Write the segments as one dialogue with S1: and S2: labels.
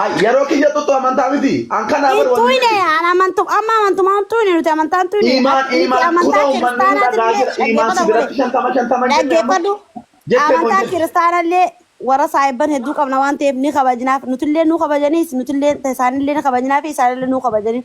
S1: Ay, yeroo kiyya tuttu amantaa miti. An kanaa bar Intuu wanni hine an amantum
S2: amma amantum hamtuu hine nuti amantaa hamtuu hine Iimaan nuti iimaan amantaa kunoo
S1: uummanni ni kiristaanaatiin dhagaa illee jira. Iimaan si dhaggeeffadhu biratti godhe shantama shantama hin jenne amma dhaggeeffadhu
S2: jettee kun amantaa jette. kiristaanaa illee warra saayibban hedduu qabna waan ta'eef ni kabajnaaf nutillee nu kabajaniis nutillee isaanillee ni kabajnaaf isaanillee nu kabajaniif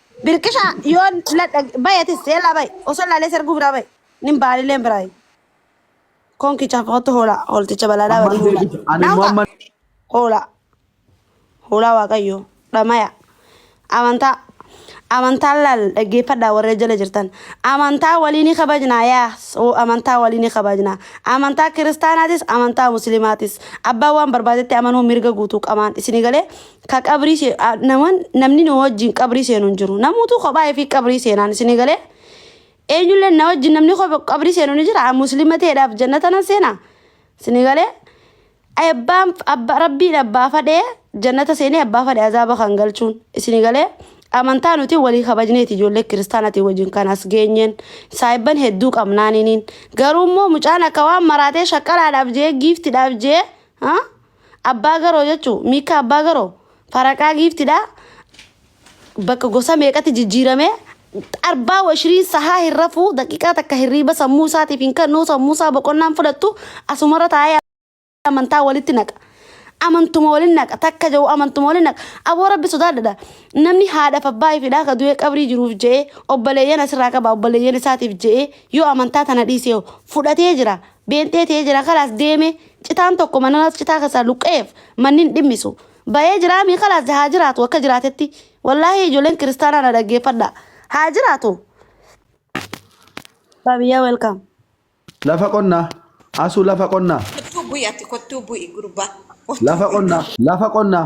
S1: Birqisha
S2: yon ladha bay atis yalla bay oso lale sergu bira bay nin bali len bira kon kicha foto hola holticha balala Ammaan wali hola deebite. Ani immoo amma hola hola waqayyo dhamaya amanta amanta lal dhaggeeffadha warra jala jirtan amantaa walii ni kabajnaa yaas oo amantaa walii ni kabajnaa amantaa kiristaanaatis amantaa muslimaatis abbaa waan barbaadetti amanuu mirga guutuu qamaan isinii galee ka qabrii se- a- naman namni nu wajjin qabrii seenu hin jiru namuutu kophaa fi qabrii seenaan isinii galee eenyullee na wajjin namni kopha qabrii seenu ni jira An muslima ta'eedhaaf jannata nan seena isinii galee abbaan abba rabbiin abbaa fadhee jannata seenee abbaa fadhe azaaba kan galchuun isinii galee amantaa nuti walii kabajneeti ijoollee kiristaanatii wajjin kan as geenyeen saayibban hedduu qabnaaniniin garuu immoo mucaan akka waan maraatee shaqqalaadhaaf jee giiftidhaaf jee ha Abbaa garoo jechuun miikkaa abbaa garoo faraqaa giiftidhaa bakka gosa meeqatti jijjiiramee arbaa washiriin sahaa hin rafuu daqiiqaa takka hirriiba sammuu isaatiif hin kennuu sammuu isaa boqonnaan fudhattu asumarra taa'ee amantaa walitti naqa. Amantuma waliin naqa takka jedhu amantuma waliin naqa aboo rabbi sodaadhadha namni haadhaaf abbaa ifidhaa ka du'ee qabrii jiruuf je'ee obboleeyyan asirraa qaba obboleeyyan isaatiif je'ee yoo amantaa tana dhiisee fudhatee jira Beentee ta'ee jira kalaas deeme citaan tokko mananas citaa keessaa luqqa'eef mannin dhimmisu ba'ee jiraamii kalaas haa jiraatu akka jiraatetti wallaahii ijoolleen kiristaanaa na dhaggeeffadha haa jiraatu. Baabiyyaa welcome. Lafa
S1: qonnaa. Asuu lafa qonnaa. Kottuu bu'i ati kottuu
S3: bu'i gurbaa. Kottuu Lafa bu'i. qonnaa.
S1: Lafa qonnaa.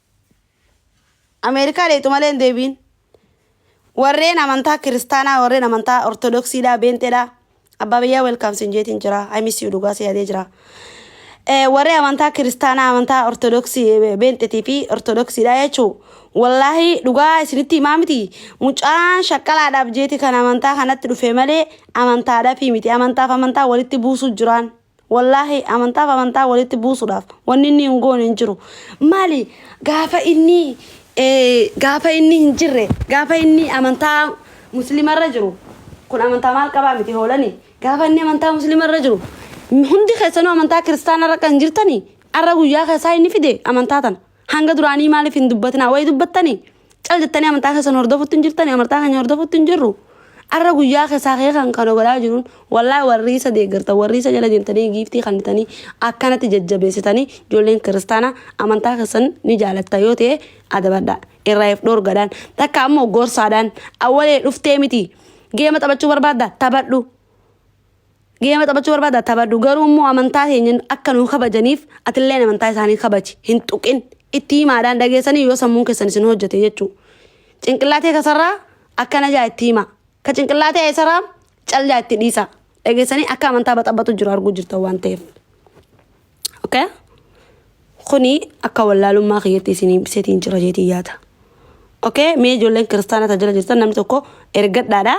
S2: Ameerikaa dheexu malee hin deebiin. Warreen amantaa kiristaanaa, warreen amantaa ortodoksiidhaa, beenxeedhaa. Abbaa biyyaa welkaam sin jeetiin jira. I miss you dhugaa si yaadee jira. Eh, warreen amantaa kiristaanaa, amantaa ortodoksii, eh, beenxetii fi ortodoksiidhaa jechuu. Wallaahi dhugaa isinitti himaa miti. Mucaan shaqqalaadhaaf jeeti kan amantaa kanatti dhufe malee amantaadhaaf miti. Amantaaf amantaa walitti buusuu jiraan. Wallaahi amantaaf amantaa walitti buusuudhaaf wanni inni hin goone hin jiru. Maali gaafa inni eh, gaafa inni hin jirre gaafa inni amantaa musliimarra jiru kun amantaa maal qabaa miti hoolani gaafa inni amantaa musliimarra jiru hundi keessanuu amantaa kiristaanarra akka hin jirtani arra guyyaa keessaa inni fide amantaa tana hanga duraanii maaliif hin dubbatinaa wayi dubbattanii Cal jettanii amantaa keessan hordofutti hin jirtani amantaa keenya hordofutti hin jirru. Arra guyyaa keessaa kee kan kana godhaa jiruun wallaahi warri isa deeggartan warri isa jala deemtanii giiftii kannitanii akkanatti jajjabeessitanii ijoolleen kiristaanaa amantaa keessan ni jaalatta yoo ta'e adabadha irraa if dhoorgadhaan takka ammoo gorsaadhaan awwalee dhuftee miti geema taphachuu barbaadda taphadhu Geema taphachuu barbaada taphadhu garuu immoo amantaa keenya akka nu kabajaniif atilleen amantaa isaanii kabaji hin tuqin itti himaadhaan dhageessanii yoo sammuun keessan isin hojjete jechuu cinqillaatee kasarraa akkana jaa itti himaa ka cinqillaatee isaraa cal jaa itti dhiisaa dhageessanii akka amantaa baxabbatu jiru arguu jirtan waan ta'eef. Okay? Kuni akka wallaalummaa kiyyatti isinii ibsetiin jira jeetii yaada. Okay? Mee ijoolleen kiristaana tajaajila jirtan namni tokko ergadhaadha.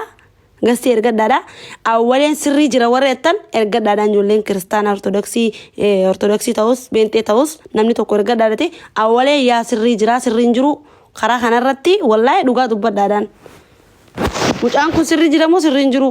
S2: Gastii ergadhaadha. Awwaleen sirrii jira warri jettan ergadhaadhaan ijoolleen kiristaana ortodoksii eh, ortodoksii ta'us beenxee ta'us namni tokko ergadhaadhati awwaleen yaa sirrii jira sirriin jiru karaa kanarratti wallahi dhugaa dubbadhaadhaan. Mucaan kun sirrii jira moo sirriin jiru?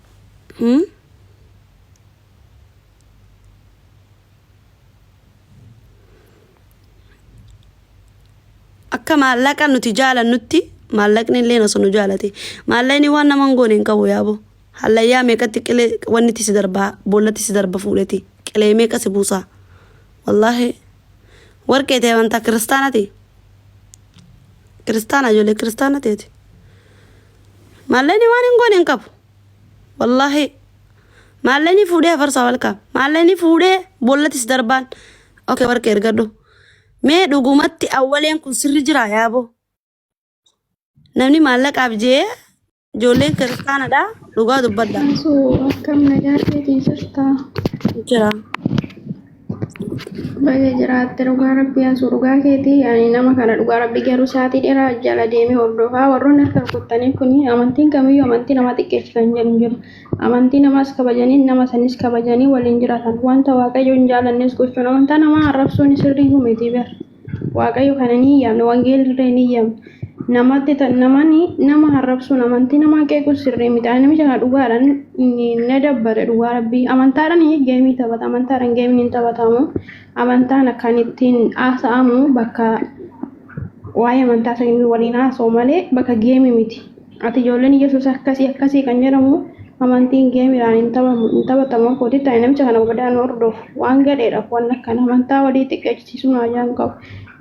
S2: Hmm? Akka maallaqa nuti jaalannutti maallaqni illee osoo nu jaalate. Maallaqni waan nama hin goone hin qabu yaaboo. Hallayyaa meeqatti qilee wanni itti si darbaa boollatti si darba fuudheti qilee meeqa si buusaa. Wallaahi warqee ta'e amantaa kiristaanati. Kiristaana ijoollee kiristaana ta'eeti. Maallaqni waan hin goone hin qabu. Wallaahi maallaqni fuudhee hafarsaa walkaam. Maallaqni fuudhee bollatis darbaan. Oke warqi ergadhu. Mee dhugumatti awwaleen kun sirri jira yaaboo. Namni maallaqaaf jee ijoolleen kiristaanadha dhugaa dubbadha. Osoo akkam
S4: nagaa keetii jirtaa? Jira. Baga jiraatte dhugaa rabbii asuu dhugaa keeti ani nama kana dhugaa rabbii garuu saatii dheeraa jala deemee hordofaa warroonni harka rukuttanii kun amantiin kamiyyuu amantii namaa xiqqeessi kan jedhu hin jiru amantii namaas kabajanii nama sanis kabajanii waliin jiraatan wanta waaqayyo hin jaalannes gochuun amantaa namaa arrabsuun sirriyyuu miti beer. Waaqayyo kana ni yaamne, wangeelli illee ni yaamne. Namatti namani nama harrabsuun amantii namaa qeequun sirrii miti. Ani namicha kana dhugaadhaan na dabbare dhugaa rabbii. Amantaadhaan geemii taphata, amantaadhaan geemiin hin taphatamu. Amantaan akkaan ittiin haasa'amu bakka waa'ee amantaa sanii waliin haasa'u malee bakka geemii miti. Ati ijoolleen Yesuus akkasii akkasii kan jedhamu amantiin geemiidhaan hin taphamu hin taphatamu akka hojii ta'e namicha kana badaa nu hordofu waan gadheedhaaf waan akkana amantaa walii xiqqeechisiisuu nu ajaan qabu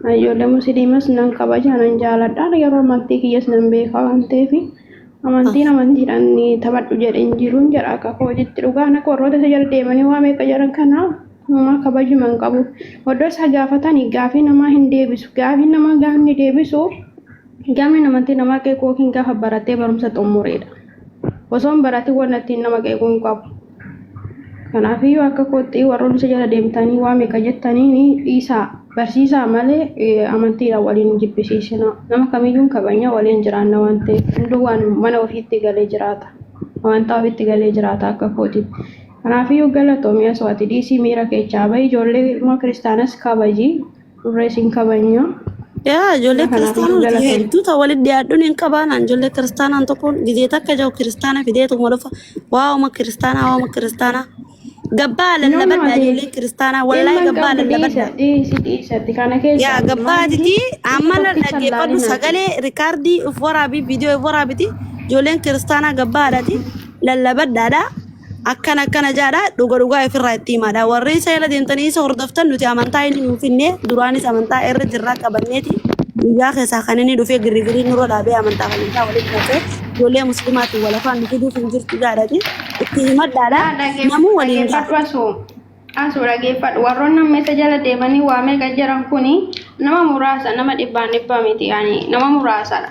S4: ani ijoollee musliimas nan kabaja nan jaaladha yeroo amantii kiyyas nan beekaa waan ta'eef amantiin amantiidhaan ni taphadhu jedhe hin jiruun jedha akka akka hojiitti dhugaan akka warroota isa jala deemanii waa meeqa jedhan kana uumaa kabajuma hin qabu oddoo isaa gaafatanii gaafii namaa hin deebisu gaafii namaa gaafni deebisu Gamiin amantii namaa qeequu yookiin gaafa baratee barumsa xummureedha. Osoo hin baratiin wanna ittiin nama qeequu hin qabu. Kanaafiyyuu akka kootti warroonni isa jala deemtanii waa meeqa jettanii ni dhiisaa barsiisaa malee amantiidhaan waliin hin jibbisiisinaa. Nama kamiyyuu hin kabajna waliin jiraanna waan ta'eef hunduu waan mana ofiitti galee jiraata. Amantaa ofiitti galee jiraata akka kootiif. Kanaafiyyuu galatoomi asoo ati dhiisii miira keechaa bahi ijoollee ilmoo kiristaanas kabaji. Turree siin kabajna. Yaa ijoollee
S2: Nama kanaaf kiristaanaa iyyuu nuti galatoomi. hedduu ta'u walitti dhiyaadhuun hin qabaanaan ijoollee kiristaanaan tokkoon gizee takka jiru kiristaana fideetuma dhufa waa'uma kiristaanaa waa'uma kiristaanaa gabbaa No, no, lallabadha ati ijoolleen kiristaanaa wallahi ilma hin gabbaa qabdu dhiisa, lallabadha dhiisi, dhiisi. Ati kana yaa keessaa gabbaa maal ati iti isa amma tokkicha hin dhaggeeffadhu laalin ati. sagalee rikaardii of waraabii viidiyoo of waraabiti ijoolleen kiristaanaa gabbaadhaati lallabadhaadha akkana akkana jaadha dhuga dhugaa ifirraa itti himaadha warri isa jala deemtanii isa hordoftan nuti amantaa inni nuuf finne duraanis amantaa irra jirraa qabanneeti guyyaa keessaa kan inni dhufee girrigirii nurra dhaabee amantaa amantaa walitti naqee ijoollee muslimaatiin walafaan nu fiduuf hin jirtu jaadhati itti himadhaadha namuu waliin ga'a. dhaggeeffadhu asuu
S4: asuu dhaggeeffadhu warroonni amma isa jala deemanii waa meeqa jiran kuni nama muraasa nama dhibbaan dhibbaa miti yaani nama muraasadha